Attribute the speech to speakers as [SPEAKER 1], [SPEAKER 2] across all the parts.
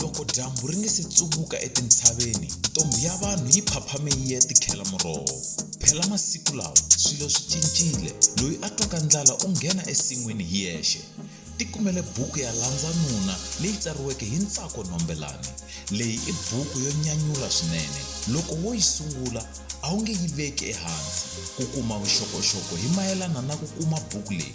[SPEAKER 1] loko dyambu ri nge se tsuvuka etintshaveni ntombhi ya vanhu yi phaphame yi ya tikhela muroho phela masiku lawa swilo swi cincile loyi a twaka ndlala u nghena esin'wini hi yexe ti kumele buku ya landza nuna leyi tsariweke hi ntsako nombelani leyi i buku yo nyanyula swinene loko wo yi sungula a wu nge yi veki ehansi ku kuma vuxokoxoko hi mayelana na ku kuma buku leyi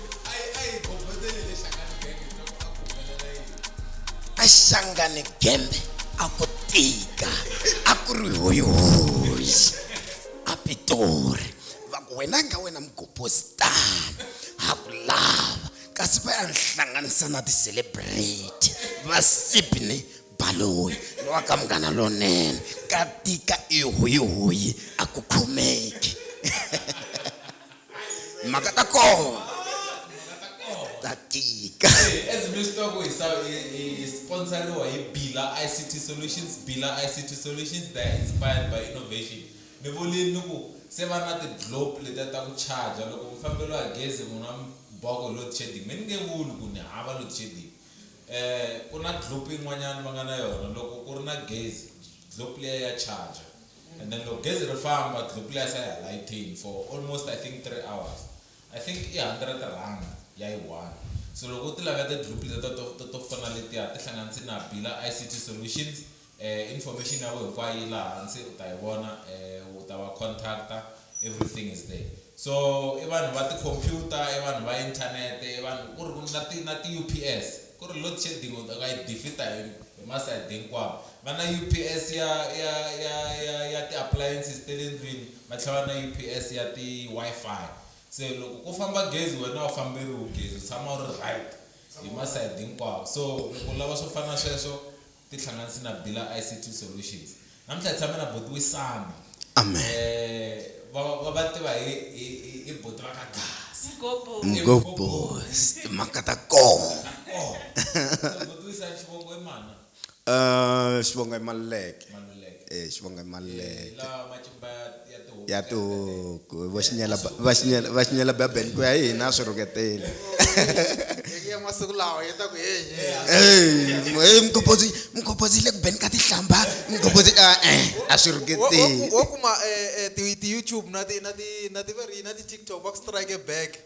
[SPEAKER 2] a xangane gembe a ku tika a ku ri hoyihoyi a pitori va ku wena nga wena mugoposi tani ha ku lava kasi va ya ni hlanganisa na ti-celebrity va sibne baloyi lowa ka munghana lonene ka tika i hoyihoyi a ku khomeki mhaka ta kona ta tika as mi swi tiva ku
[SPEAKER 3] hi sa- hi- hi hi sponsoriwa hi bila ict solutions bila ict solutions they are inspired by innovation ni vulini ni ku se va na ti-globe letiya ta ku charger loko mi famberiwa hi gezi n'wina mi biwa ku hi load shedding mi ni nge vuli ku ni hava load shedding um ku na globe yin'wanyana va nga na yona loko ku ri na gezi globe liya ya charger And then loko gezi ri famba dlopulasi a ya ha layithini for almost I think three hours. I think i hundred rhanda ya yi one. So loko u ti laveta dlopul letiya to to to fana letiya ti hlanganisi na bila ICT solutions eh information ya wena hinkwayo yi laha hansi u ta yi vona eh u ta va contact-a everything is there. So i vanhu va ti-computer i vanhu va internet i vanhu ku ri na ti na ti-U_P_S ku ri loadshedding u nga yi defeat-a hi hi masayiti hinkwawo Va na UPS ya ya ya ya ya ti appliances ta le ndlwini va tlhela va na UPS ya ti Wi-Fi se loko ku famba gezi wena a wu famberiwi gezi u tshama u ri right hi masayiti hinkwawo so loko u lava swo fana na sweswo ti hlanganisi na Bila I_C_T solutions namuntlha hi tshame na buti Wisani Amen. um
[SPEAKER 2] va va va
[SPEAKER 3] tiva hi hi hi hi buti va ka Gasa Mgobos
[SPEAKER 2] timhaka ta kona. kona so
[SPEAKER 3] buti Wisani xivongo i mana Uh,
[SPEAKER 2] xivongo i maluleke e eh, xivongo i maluleke
[SPEAKER 3] ya
[SPEAKER 2] tihuku va xinyela bebele ku ya hi hina swi rhuketeli
[SPEAKER 4] masiku lawa yi ta ku heyimukopozi
[SPEAKER 2] mukopozi yi le ku beni ka tihlamba mukopozi ah, eh, a swi rhuketeli wo kuma
[SPEAKER 4] eh, ti-youtube na ti-tiktok va ku strike back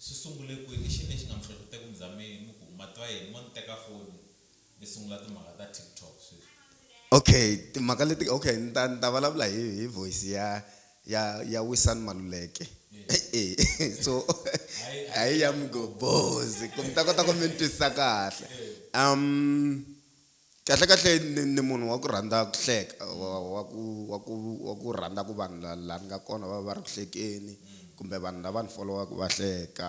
[SPEAKER 3] Swi sungule kwini? I xini lexi nga mi hlohlotela ku mi za mi mi ku, Matwaeni mo ni teka foni mi sungula timhaka ta TikTok sweswi? Okay
[SPEAKER 2] timhaka leti okay ni ta ni ta vulavula hi hi voice ya ya ya Wisani Maluleke e so a hi ya Mgobozi ku mi ta kota ku mi ni twisisa kahle um. Kahle kahle ni ni munhu wa ku rhandza ku hleka wa wa ku wa ku wa ku rhandza ku vanhu la la ni nga kona va va va ri ku hlekeni kumbe vanhu lava ni folowaka va hleka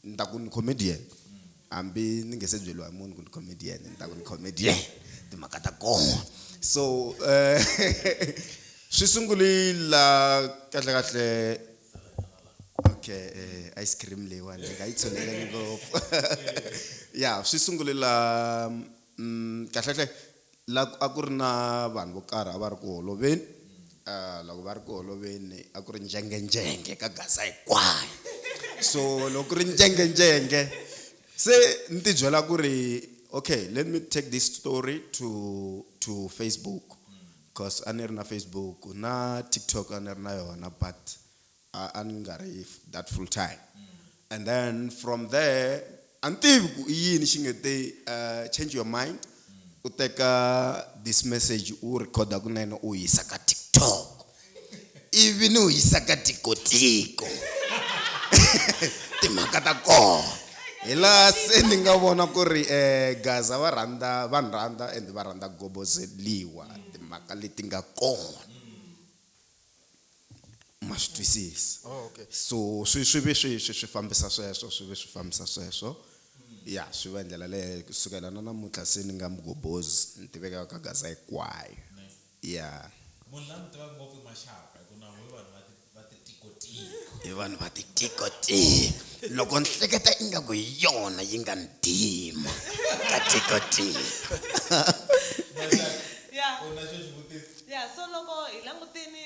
[SPEAKER 2] ni ta ku ni comedian hambi ni nge se byeriwa hi munhu ku ni comedian ni ta ku ni comedian timhaka ta kona so swi sunguli la kahle kahle. okay eh, ice cream leyiwani ni nga yi tshineleli ngopfu ya swi sungule la mm, kahlekahle la a ku ri na vanhu vo karhi a va ri ku holoveni um loko va ri ku holoveni a ku ri njengenjenge ka gaza hinkwayo so loko ku ri njengenjenge se ni tibyela ku ri okay let me take this story to to facebook coz a ni ri na Facebook na TikTok a ni ri na yona but a a ni nga ri that full time and then from there a ni tivi ku i yini xi nge te uh, change your mind u teka this message u recorda kunene u yisa ka TikTok ivi ni wu yisa ka tikotiko timhaka ta kona hi laha se ni nga vona ku ri um gaza va rhandza va ni rhandza and va rhandza gobozeliwa timhaka leti nga kona ma swi twisisa oh, so swi swi ve swi swi swi fambisa sweswo swi ve swi fambisa sweswo ya swi va hi ndlela leyo kusukela na namuntlha se ni nga mugobozi ni tiveka ka gaza hinkwayo ya. Munhu la mi
[SPEAKER 3] tivaka ngopfu i Maxaka hi ku na n'wi vanhu va ti va ti tiko tiko. Hi vanhu va ti
[SPEAKER 2] tiko tiko. Loko ni hleketa ingaku hi yona yi nga ni dima ka tiko tiko.
[SPEAKER 5] Yeah. U na xo xi vutisa? Yeah so loko hi langutini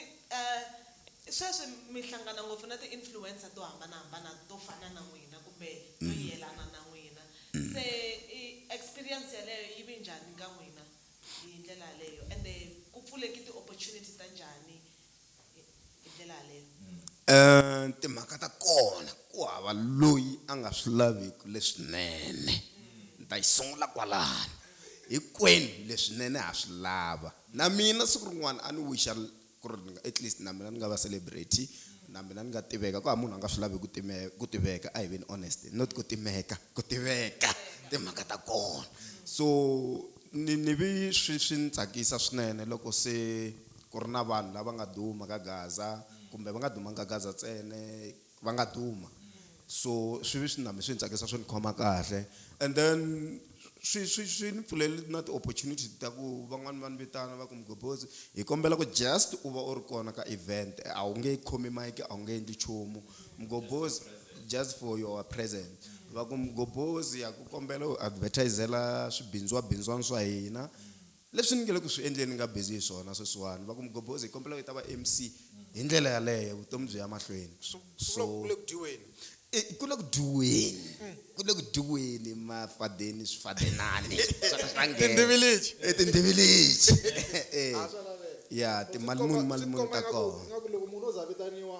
[SPEAKER 5] sweswi mi hlangana ngopfu na ti influencer to hambanahambana to fana na n'wina kumbe to yelana na n'wina se experience yaleyo yi vi njhani ka n'wina hi ndlela yaleyo ende ku pfuleki ti opportunity ta njhani hi hi ndlela yaleyo. Eeh timhaka ta
[SPEAKER 2] kona ku hava loyi a nga swi laviki leswinene ni ta yi sungula kwalano hinkwenu leswinene ha swi lava na mina siku rin'wana a ni wixa Ku ri ni nga, at least na mina ni nga va celebrity, na mina ni nga tiveka. Ku hava munhu a nga swi lavi ku ku tiveka, a hi veni honest. Not ku timeka, ku tiveka, timhaka ta kona. So ni ni vi swi swi ni tsakisa swinene loko se ku ri na vanhu lava nga duma ka Gaza, kumbe va nga dumanga ka Gaza ntsena, va nga duma so swi vi swi na mi swi ni tsakisa swi ni khoma kahle and then swi swi swi ni pfulele na ti-opportunity ta ku van'wani va ni vitana va ku mugobotsi hi kombela ku just u va u ri kona ka event a wu nge khomi mike a wu nge endli nchumu mugobotsi just for your present va ku mugobotsi ya ku kombela u advertisela swibindziwabindziwani swa hina Leswi ni nge le ku swi endleni ni nga busy hi swona sweswiwani. Va ku, Mgobhozi, hi kombela u yi ta va MC. Hi ndlela yaleyo, vutomi byi ya mahlweni. Swi vula ku ku le ku
[SPEAKER 4] dyiweni. E, ku le ku
[SPEAKER 2] dyiweni. Ku le ku dyiweni, mafadeni, swifadenani swa ka swi ta nghena. Tindhiviliji. E, tindhiviliji. E, e. A swa laveka. Ya, timali muni, mali muni ta kona. Swi ti komba ingaku, ingaku loko munhu o za a vitaniwa.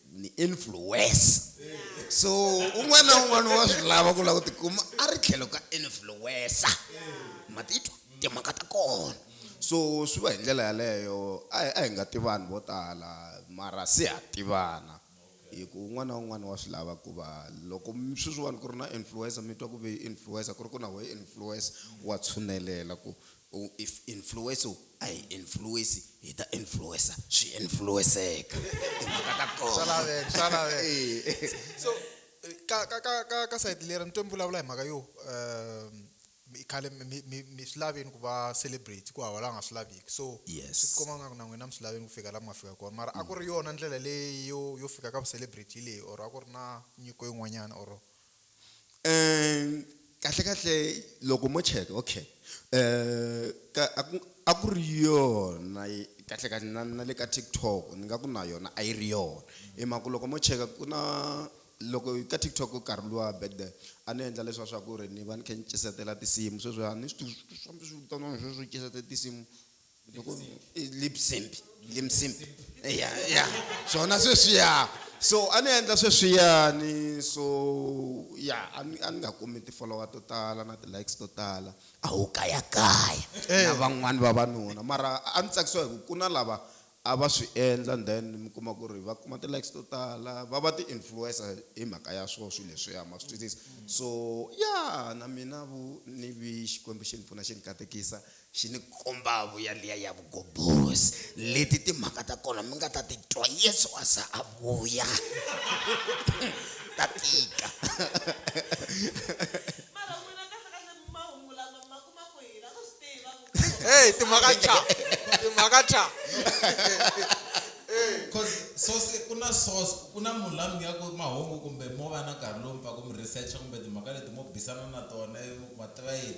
[SPEAKER 2] ni influencer so un'wana na un'wana wa swi lava ku lava ku tikuma a ri tlhelo ka influencer ma titwa timhaka ta kona so swi va hi ndlela yaleyo a hi a hi nga tivani vo tala mara se ha tivana hi ku un'wana na un'wana wa swi lava ku va loko mi- sweswiwani ku ri na influencer mi twa ku ve influencer ku ri ku na wehe influencer wa tshunelela ku U if influence u a hi influence hi ta influencer swi influenceka timhaka ta kona swa laveka swa laveka eh.
[SPEAKER 4] so eh, ka ka ka ka ka side lera ni twe mi vulavula hi mhaka yo um i khale mi swi laveni ku va celebrate ku hava la nga swi laviki so swi tikomba nga ku na
[SPEAKER 2] n'wina mi
[SPEAKER 4] swi laveni ku fika la mi nga fika kona mara a ku ri yona ndlela leyi yo yo fika ka vu celebrate leyi or a ku ri na nyiko yin'wanyana or
[SPEAKER 2] kahle kahle loko mo cheka okay ka a ku a ku ri yona kahle kahle na na le ka TikTok ni nga ku na yona a yi ri yona hi mhaka ku loko mo cheka ku na loko ka TikTok ku karhi luwa back then a ni endla leswiya swa ku ri ni va ni kha ni tinsimu sweswiya a ni swi tivi swa swa vitaniwani sweswo tinsimu. lipsimpi limsimpi ya ya swona sweswiya so a ni endla sweswiyani so ya a ni a ni nga kumi ti-follower to tala na ti-likes to tala a wu kayakaya na van'wani vavanuna mara a ni tsakisiwa hi ku ku na lava a va swi endla and then mi kuma ku ri va kuma ti-likes to tala va va ti-influencer hi mhaka ya swona swilo leswiya ma swi twisisa so ya na mina vu ni vi xikwembu xi ni pfuna xi ni katekisa Xi ni kombavo yaliya ya vugoborosi. Leti timhaka ta kona mi nga ta ti twa Yesu a za a vuya. Ta tika. Mara n'wina kahle-kahle mahungu lama
[SPEAKER 5] mi ma kuma kwihi? La ku swi tiva ku Kreste u Hey, ta timhaka
[SPEAKER 4] thya. suka. Timhaka thya. Hey.
[SPEAKER 3] Coz source ku na source ku na munhu la mi nyikaka ku mahungu kumbe mo va na nkarhi lowu mi pfaka mi research kumbe timhaka leti mo bisana na tona ivi mi ku ma tiva yini.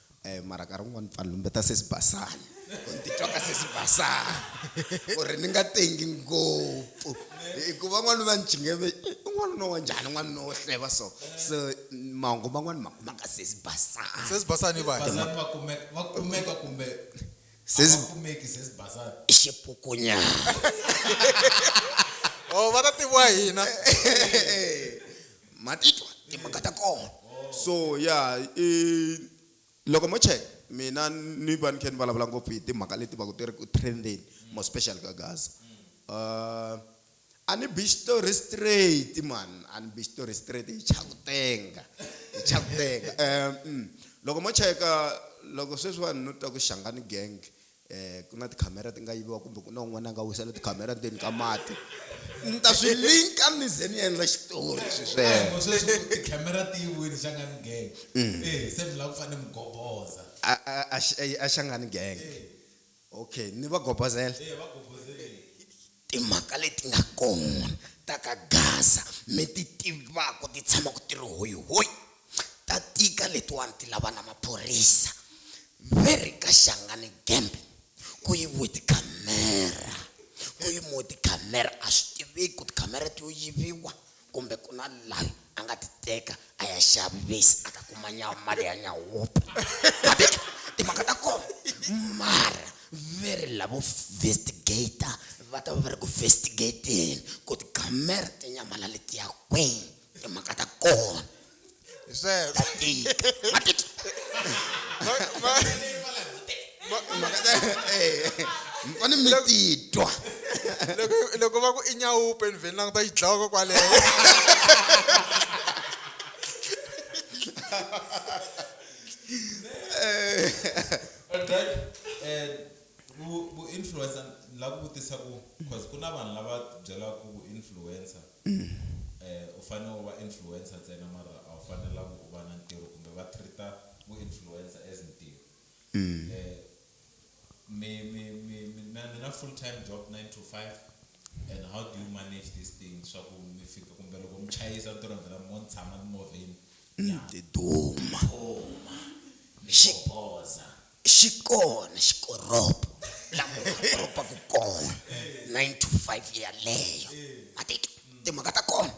[SPEAKER 2] Eh, mara nkarhi wun'wani pfani lumbeta sesi basani ku ni titwa ka sesi basani ku ri ni nga tengi ngopfu hikuva n'wana va ni chingeve n'wanuna wa njhani n'wanuna wo hleva so so mahungu man'wani ma kuma ka sesi basani sesi basani i vani
[SPEAKER 4] Bazani va kumeka va
[SPEAKER 3] kumeka kumbe Sesi- a va kumeki sesi bazani i
[SPEAKER 2] xipukunyana
[SPEAKER 4] o va ta tiviwa hina ma
[SPEAKER 2] titwa timhaka ta kona so ya i loko mo check mina ni va ni khe ni vulavula ngopfu hi timhaka leti va ku ti ri ku trendeni more special ka Gaza uh, a ni bi xitori straight man a ni bi xitori straight hi chakutenga hi chakutenga um loko mo cheka loko sweswiwani ni twa ku xangani gang um ku na tikhamera ti nga yiviwa kumbe ku na un'wana a nga wisela tikhamera ndzeni ka mati ni ta swi linka ni ze ni endla xitori sweswokhamera
[SPEAKER 3] ti yiviwile xangani gang mm. eh, se mi lava ku fanele mi goboza
[SPEAKER 2] a xangani gang eh. okay ni va gobozela eh,
[SPEAKER 3] Timhaka
[SPEAKER 2] leti nga kona ta ka Gaza mi ti tivaka ti tshamaku ti ri hoyi hoyi ta tika letiwani ti lava na maphorisa ve ri ka Shangani Gembe ku yiviwe ti camera ku yimiwe ti camera a swi tiveki ku ti camera ti yo yiviwa Kumbe ku na layi a nga ti teka a ya xavi vesi a ta kuma nyawa mali ya nyawopi ma ti twa timhaka ta kona mara ve ri lavo vestigator va ta va va ri ku vestigating ku ti gammer ti nyamalale ti ya kwini timhaka ta kona. Zero. Ma- ma- ma- ma- mi fane mi titwa loko-
[SPEAKER 4] loko va ku i nyawupe ni vheni languta yi dlawaka kwaleyo
[SPEAKER 3] Alright. Eh, vu- vu-influencer ni lava ku vutisa ku cause ku na vanhu lava byelaka ku vu-influencer u fane u va influencer ntsena mara a wu fanelangi u va na ntirho kumbe va treat-a vu influencer as ntirho mi mi mi mi na mi na full time job nine to five and how do you manage this thing swa ku mi fika kumbe loko mi chayisa mi ti rindzela mo ni tshama timovheni ni
[SPEAKER 2] duma ni xi
[SPEAKER 3] boza. xi kona
[SPEAKER 2] xikoropo la munhu a koropaku kona nine to five yaleyo ma titwa timhaka ta kona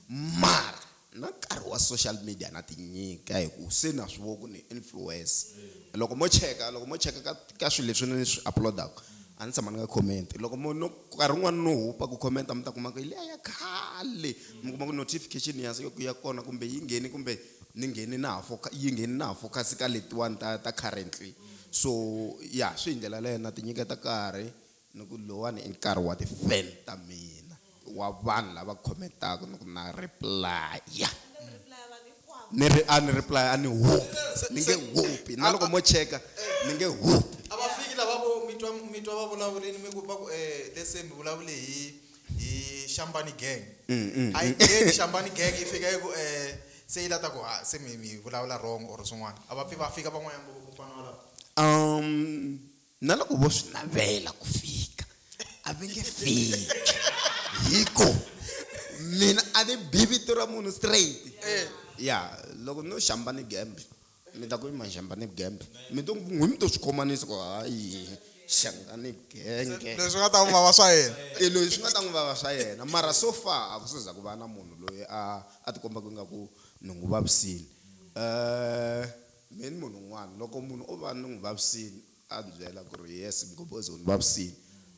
[SPEAKER 2] mara na nkarhi wa social media na ti nyika hi ku se na swi vo ku ni influence loko mo cheka loko mo cheka ka ka swilo leswi ni swi upload-aku a ni tshama ni nga comment loko mo no nkarhi wun'wani no hupa ku comment mi ta kuma ku hi liya ya khale mi kuma ku notification ya ya kona kumbe yi nghene kumbe ni ngheni na ha foka yi ngheni na ha focus ka letiwani ta ta currently so ya swi hi ndlela leyo na tinyiketa karhi ni ku lowani i nkarhi wa ti-fan ta mina wa vanhu lava comment-aka ni ku na replaya ni ri a ni replaya a ni hupi ni nge hupi na loko mo cheka ni nge hupi a va fiki lava vo
[SPEAKER 4] mi twa mi twa va vulavurini mi ku va ku um let's say mi vulavule hi hi xambani gang mm, mm, a yi gang xambani gang yi fika yi ku um se yi lata ku ha se mi mi vulavula wrong or swin'wana a va pfi va fika van'wanyana loko ku fana walawo um
[SPEAKER 2] na loko vo swi navela ku fika a va nge fiki hi ku mina a ni bi vito ra munhu straight ya loko no xambani gamble mi ta ku i maxamba ni vugembe mi to n'wi mi to swi khomanisa ku hayi xanga ni vugenge leswi nga ta n'wi vava swa
[SPEAKER 4] yena e loyi swi nga ta n'wi vava
[SPEAKER 2] swa yena mara so far a ku seza ku va na munhu loyi a a tikomba ku ingaku ni n'wi vavisini um me ni munhu un'wana loko munhu o va ni n'wi vavisini A ndzi byela ku ri, Yes Mgobhozi u ni vavisile.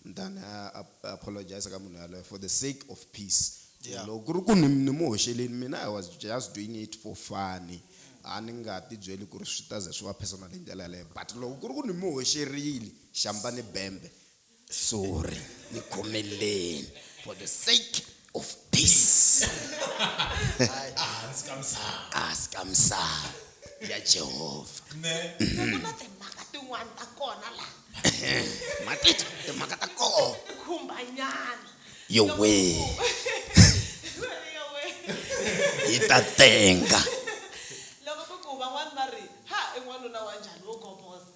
[SPEAKER 2] Ni ta ni ya apologiser ka munhu yaloye for the sake of peace. Ku loko ku ri ku ni ni mu hoxelini mina I was just doing it for funny. A ni nga ti byeli ku ri swi ta ze swi va personal hi ndlela yaleyo. But loko ku ri ku ni mu hoxerile xambani bembe sorry ni khomeleni for the sake of peace ahansi ka misava ya jehovha nakona
[SPEAKER 5] timhaka tin'wana ta kona la matita
[SPEAKER 2] timhaka ta kona khumbanyana
[SPEAKER 5] yowe
[SPEAKER 2] yi ta tenga loko
[SPEAKER 5] ku ku van'wana va ri ha i n'wanuna wa njhani wo goboza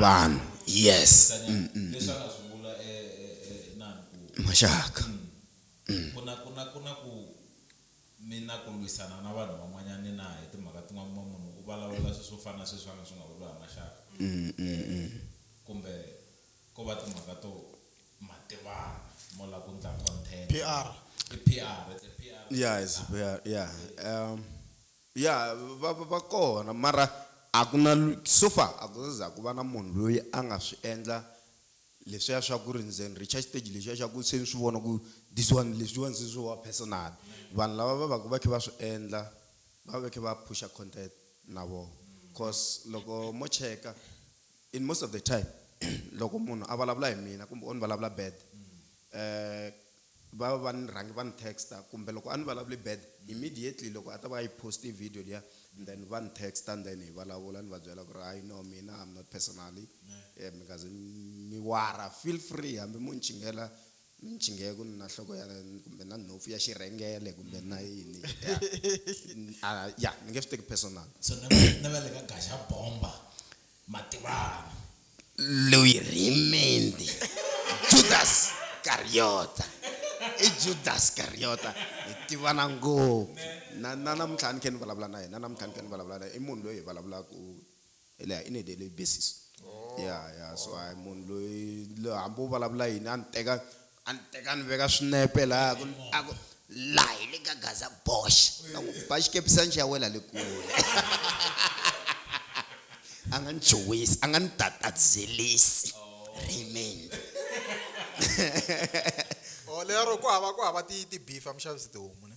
[SPEAKER 3] vanhu
[SPEAKER 2] yes mm,
[SPEAKER 3] mm, mm. maxaka
[SPEAKER 2] mm. kuna
[SPEAKER 3] kuna kuna ku mi na ku lwisana na vanhu van'wanyana na hi timhaka tin'wana kuma munhu u vulavula swilo swo fana na sweswi va nga swi nga vuriwa hi maxaka mm, mm, mm. kumbe ko va timhaka to mativana mo la ku ndla content PR. i
[SPEAKER 4] pr
[SPEAKER 3] it's a pr yeah it's a pr yeah um Ya,
[SPEAKER 2] va va kona mara a ku na so far a ku za ku va na munhu loyi a nga swi endla leswiya swa ku ri ni ze ni reach-a xiteji lexiya xa ku se ni swi vona ku this one leswiwani se swo va personal. Vanhu lava va vaku va kha va swi endla va va va kha va push-a content na voho coz loko mo cheka in most of the time loko munhu a vulavula hi mina kumbe o ni vulavula bad . Va va va ni rhangi va ni texta kumbe loko a ni vulavuli bad immediately loko a ta va a yi post-e video liya and then va ni texta and then hi vulavula ni va byela ku ri hayi no mina I'm not personally mi nga zi mi warha feel free hambi mo ni chinghela mi ni chinghe ku ni na nhloko ya kumbe na nhompfu ya xirhengele kumbe ni na yini ya ya ni nge swi teki personal. So na va na va
[SPEAKER 3] le ka Gaxabomba Mativani.
[SPEAKER 2] Loyi rhimendhe. Judas Kariyota. I Judas Kariyota. Hi tivana ngopfu. Na na namuntlha a ni khe ni vulavula na yena, na namuntlha ni khe ni vulavula na yena. I munhu loyi hi vulavulaka hi le in a daily basis. Yeah yeah so a hi munhu loyi hambi u vulavula yini a ni teka A ni teka ni veka swinepe laha ku a ku laha hi le ka Gaza Bosch. Na ku ba xikepisana xi ya wela le kule. A nga ni chuhisi, a nga ni tatadzelisi. Remain.
[SPEAKER 4] Oh lero ku hava ku hava ti ti beef a mi xavisi tihomu ne.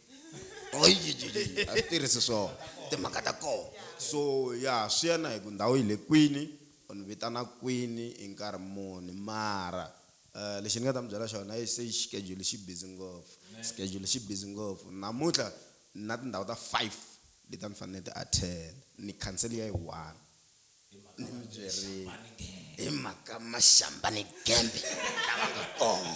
[SPEAKER 2] a swi tirhisi swona timhaka ta kona so ya swi ya na hi ku ndhawu yi le kwini u ni vitana kwini hi nkarhi muni mara um lexi ni nga ta mi byela xona yi se xikedule xi busy ngopfu xikedule xi busy ngopfu namuntlha ni na tindhawu ta five leti a ni fanele ni ti attend ni khansele ya yi one. ni mi byerile hi mhaka mashamba ni gembe lava nga kona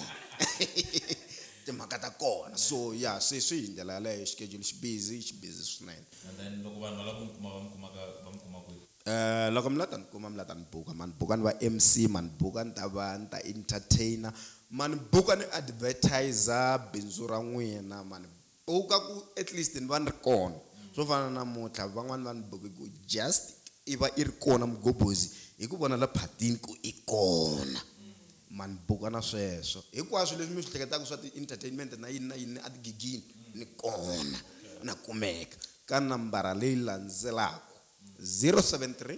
[SPEAKER 2] timhaka ta kona so ya sweswi hi ndlela yaleyo xikejuli xi busy xi busy swinene And then loko vanhu
[SPEAKER 3] va lava ku mi kuma va mi kumaka va mi kuma kwihi Eh loko mi la ta
[SPEAKER 2] ni kuma mi la ta ni buka ma ni buka ni va MC ma ni buka ni ta va ni ta entertainer ma ni buka ni advertiser bindzu ra n'wina ma ni Owu ka ku at least ni va ni ri kona. Swo fana na namuntlha van'wana va ni boke ku just i va i ri kona Mgobozi hi ku vona la phatini ku i kona. Ma ni boka na sweswo. Hinkwaswo leswi mi swi hleketaka swa ti entertainment na yini na yini a tigigini ni kona na kumeka ka nambara leyi landzelaka, 073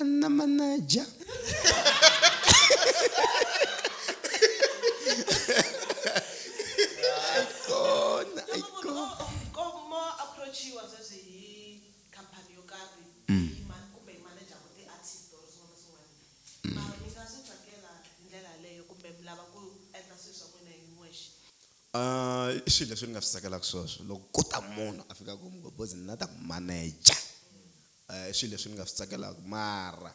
[SPEAKER 5] Anna
[SPEAKER 2] Manaja.
[SPEAKER 5] Aikona, aikona. koma approachiwa sweswi hi khampani yo karhi Mm. hi ma- kumbe hi manager wa ti-artist or swin'wana na swin'wana mara mi nga swi tsakela hi ndlela yaleyo kumbe mi lava ku endla swilo swa n'wina hi n'wexe Ah,
[SPEAKER 2] i swilo leswi ni nga swi tsakelaka sweswo loko ku ta munhu a fika ku mgobozi ni la ta ku manager I swilo leswi ni nga swi tsakelaka mara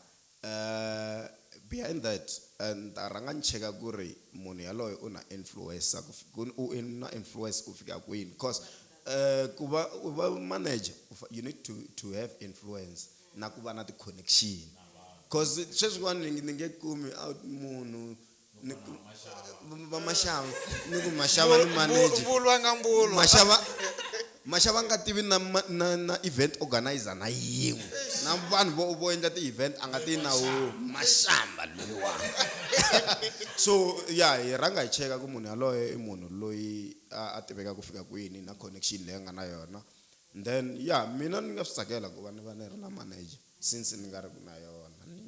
[SPEAKER 2] behind that ni ta rhanga ni cheka ku ri munhu yaloye u na influencer ku ku u na influence ku fika kwini coz ku va u va manager u fa you need to to have influence na ku va na ti-connection coz sweswiwani ni nge kumi out munhu ni ku va maxava ni ku maxava ni manager mbulu a nga mbulu maxava maxava nga tivi na ma- na na event organizer na yin'we na vanhu vo vo endla ti-event a nga tivi na wo maxamba loyiwa so ya hi rhanga hi cheka ku munhu yaloye i munhu loyi a a tiveka ku fika kwini na connection leyi a nga na yona then ya mina ni nga swi tsakela ku va ni va ni ri na manager since ni nga ri ku na yona ni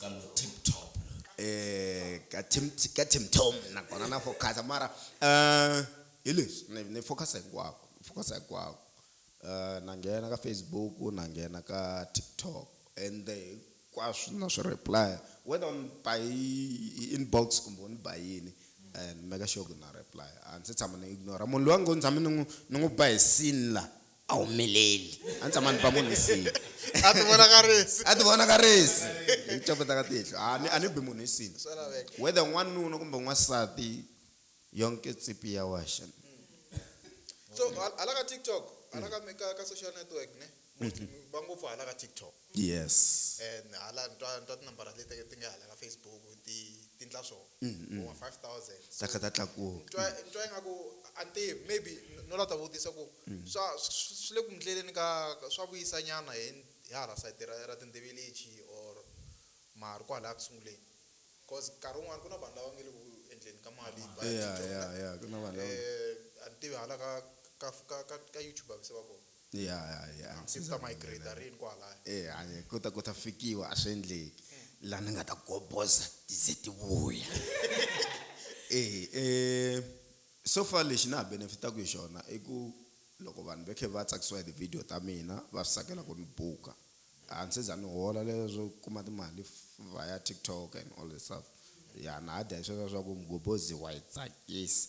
[SPEAKER 5] ka lo tip top
[SPEAKER 3] eh ka tim
[SPEAKER 2] ka tim tom nakona na focusa mara eh hi leswi ni ni focusa hinkwako ni focusa hinkwako eh na nghena ka Facebook na nghena ka TikTok ende hinkwaswo na swi reply whether u ni ba hi hi inbox kumbe u ni ba yini eh ni make sure ku na reply a ni se tshama ni ignore munhu loyi a ngo ni tshame ni n'wi ni n'wi ba hi scene la a wu meleli a ni tshama ni ba munhu nsini a ti
[SPEAKER 4] vonakarisi a ti vonakarisi hi ku copeta ka
[SPEAKER 2] tihlo a ni a ni bi munhu nsini swa laveka whether n'wanuna kumbe n'wansati yonke tsipi ya waxa so hal- hala
[SPEAKER 4] ka tiktok hala ka mi- ka ka social network ne va ngopfu hala ka tiktok Yes.
[SPEAKER 2] And hala ni twa
[SPEAKER 4] ni twa tinambara leti ti nge hala ka Facebook ti ti ndla swo vo ma five thousand Ta kha ta tlakuka. ni
[SPEAKER 2] twa ni twa ingaku
[SPEAKER 4] a ni tivi maybe no la ta vutisa ku swa swi swi le ku mi ndleleni ka ka swa vuyisa nyana hi hi hala sayiti ra ra tintibilichi or mara kwalaya ku sunguleni coz nkarhi wun'wani ku na vanhu lava nge le ku endleni ka mali va ya Yeah tidyondza yeah yeah ku
[SPEAKER 2] na vanhu lava. a ni tivi
[SPEAKER 4] hala ka ka ka ka ka YouTube a va se va kona. ya ya ya se
[SPEAKER 2] ku ta migrate
[SPEAKER 4] rini kwalaya eh hanye ku ta ku ta
[SPEAKER 2] fikiwa a swi endleki la ni nga ta goboza ti ze ti vuya eh eh so far lexi na ha benefitaku hi xona i ku loko vanhu va khe va tsakisiwa hi ti-video ta mina va swi tsakela ku ni buka a ni se za ni hola leswo kuma timali via TikTok and all that stuff ya na ha dya hi sweswiya swa ku mugobozi wa hi tsakisa.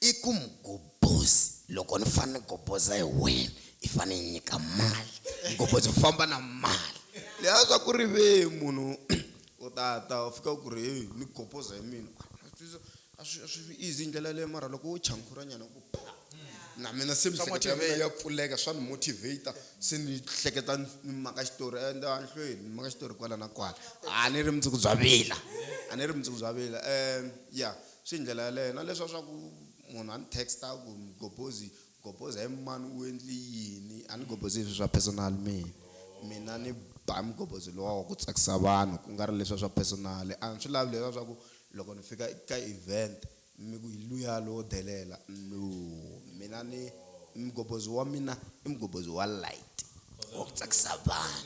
[SPEAKER 2] I ku mugobozi loko ni fane ni goboza hi wena i fane i nyika mali mugobozi u famba na mali leyi a swa ku ri ve munhu u ta ta u fika ku ri hey ni goboza hi mina a swi a swi easy ndlela leyo mara loko wo chankhura nyana ku pha na mina se miehleketo ya mina ya pfuleka swa ni motivator se ni hleketa ni maka xitori and anhlweni ni maka xitori kwala na kwala a ni ri mundzuku bya vila a ni ri mundzuku bya vila um ya Swi hi ndlela yaleyo na leswa swa ku munhu a ni text-a a ku, Mgobhozi, Mgobhozi he mani u endli yini? A ni gobhozi hi swi swa personal mina. Mina ni ba mgobhozi luwa wa ku tsakisa vanhu ku nga ri leswa swa personal. A ni swi lavi leswa swa ku loko ni fika ka event mi ku hi luya lowo delela, no. Mina ni mgobhozi wa mina i mgobhozi wa light, wa ku tsakisa vanhu.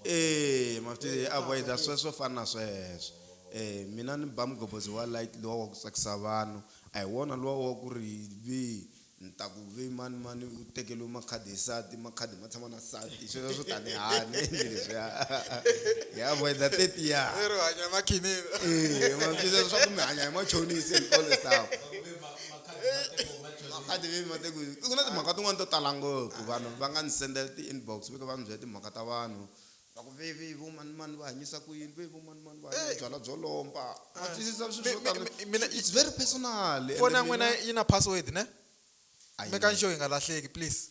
[SPEAKER 2] e mafutini avoida swe swo fana na sweswo um mina ni ba mugobodzi wa light luwa wa ku tsakisa vanhu a hi wona luwa wa ku ri vi ni ta ku vi mani mani u tekeliwe makhadi hi sati makhadi ma tshama na sati sweswo swo tani hani endli leswiya hi avoida tetiya
[SPEAKER 4] mafutini
[SPEAKER 2] swa ku mi hanya hi machonisi and all the stuff mhaka ti ve mate ku ku na timhaka tin'wani to tala ngopfu vanhu va nga ni sendela ti-inbox va kha va ni byela timhaka ta vanhu va ku veve vo manimani va hanyisa ku yini ve vo manimani va hanya byalwa byo lomba wa twisisa swi swo tani it's very personal foni ya n'wina yi
[SPEAKER 4] na password ne make-ani sure yi nga lahleki please.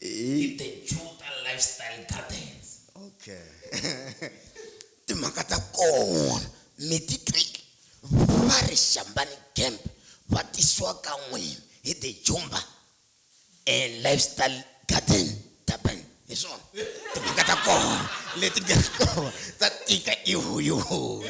[SPEAKER 3] i the juta lifestyle gardens okay
[SPEAKER 2] timhaka ta kona mi ti twile va ri xambani camp va tisiwa ka n'wini hi the jumba and lifestyle garden durban hi swona timhaka ta kona leti nga kona ta tika ihuyuhuyu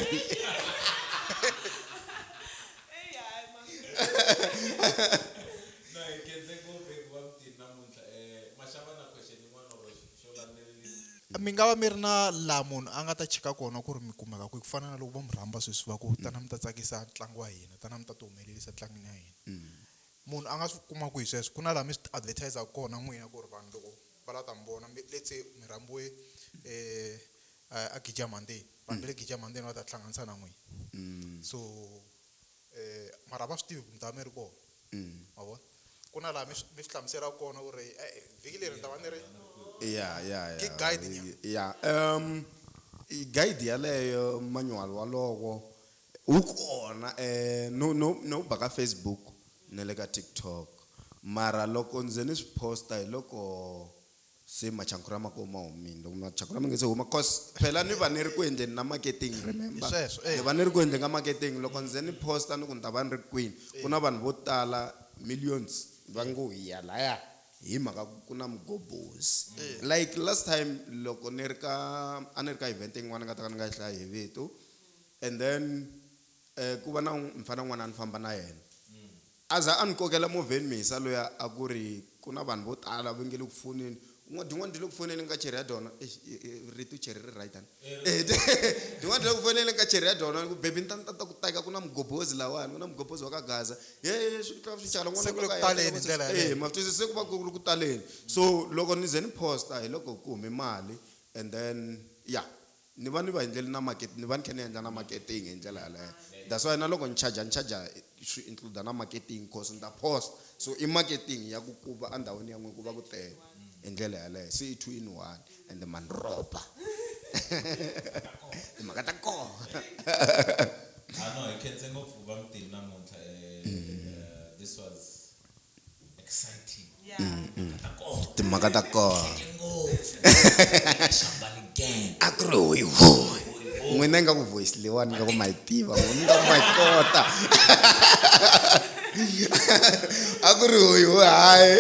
[SPEAKER 4] mi nga va mi ri na laha munhu a nga ta cheka kona ku ri mi kumeka kwihi ku fana na loko vo mi rhamba sweswi va ku tana mi ta tsakisa ntlangu wa hina tana mi ta ti humelerisa tlangini ya hina munhu a nga swi kuma kwihi sweswo ku na laha mi swi advertise-aka kona n'wina ku ri vanhu loko va lava ta mi vona let's say mi rhambiwe um a gija mhandeni vanhu va le Gijama ntsena va ta tihlanganisa na n'wina so mara a va swi tivi ku mi ta va mi ri kona ma vona ku na laha mi mi swi hlamuselaka kona ku ri e vhiki leri ni ta va ni ri ya ya ya
[SPEAKER 2] Ki guide
[SPEAKER 4] nya. ya um
[SPEAKER 2] i guide yaleyo manual walowo wu kona eh no no no ba ka Facebook na le ka TikTok mara loko ndzi ni swi posta hi loko se machankura ma ko ma humile loko machankura ma nge se huma cause phela ni va ni ri ku endleni na marketing remember Sweswo, eh. ni va ni ri ku endleni ka marketing loko ndzi ze ni posta ni ku ni ta va ni ri kwini ku na vanhu vo tala millions va ngo hi ya laya hi mhaka ku ku na mugobhozi like last time loko ni ri ka a ni ri ka event yin'wana ni nga ta ka ni nga yi hlayi hi vito and then um ku va na un- mfana un'wana a ni famba na yena A za a ni kokela movheni Mhisa luya a ku ri, Ku na vanhu vo tala va nge le ku foneni. U ngo, Din'wana ti le ku foneni ka cheri ya dona. Eish, rito cheri ri right hana? Eya, Din'wana ti le ku foneni ka cheri ya dona. Ni ku, Baby ni ta ni ta ta ku teka, ku na mugobhozi lahawani, ku na mugobhozi wa ka Gaza. He, he, swi tlula swi cala Se n'wanuna ku le wa ku ka yena a taleni hi teka ndlela
[SPEAKER 4] movheni. yaleyo. Eya, ma swi twisisa, se ku va ku ri ku
[SPEAKER 2] taleni. So loko ni ze ni post-a hi loko ku hume mali and then ya. Ni va ni va endleli na market ni va ni kha ni endla na marketing hi ndlela yaleyo that's why na loko ni charger ni charger swi include na marketing coz ni ta post so i marketing ya ku ku va a ndhawini ya n'wina ku va ku tele hi ndlela yaleyo se i two in one ende ma ni rhoba timhaka ta kona Ah no, hi
[SPEAKER 3] khense ngopfu vamutini namuntlha. Eh, this was
[SPEAKER 2] timhaka ta kona a ku ri hoyi hoyi n'wina ingaku voice leyiwani ingaku ma yi tiva n'wina ingaku ma yi kota a ku ri hoyi hoyi hayi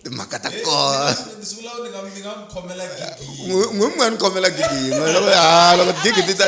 [SPEAKER 2] timhaka ta kona
[SPEAKER 3] n'wi mi nga ni khomela
[SPEAKER 2] gigi yin'we loko ha loko gigi ti ta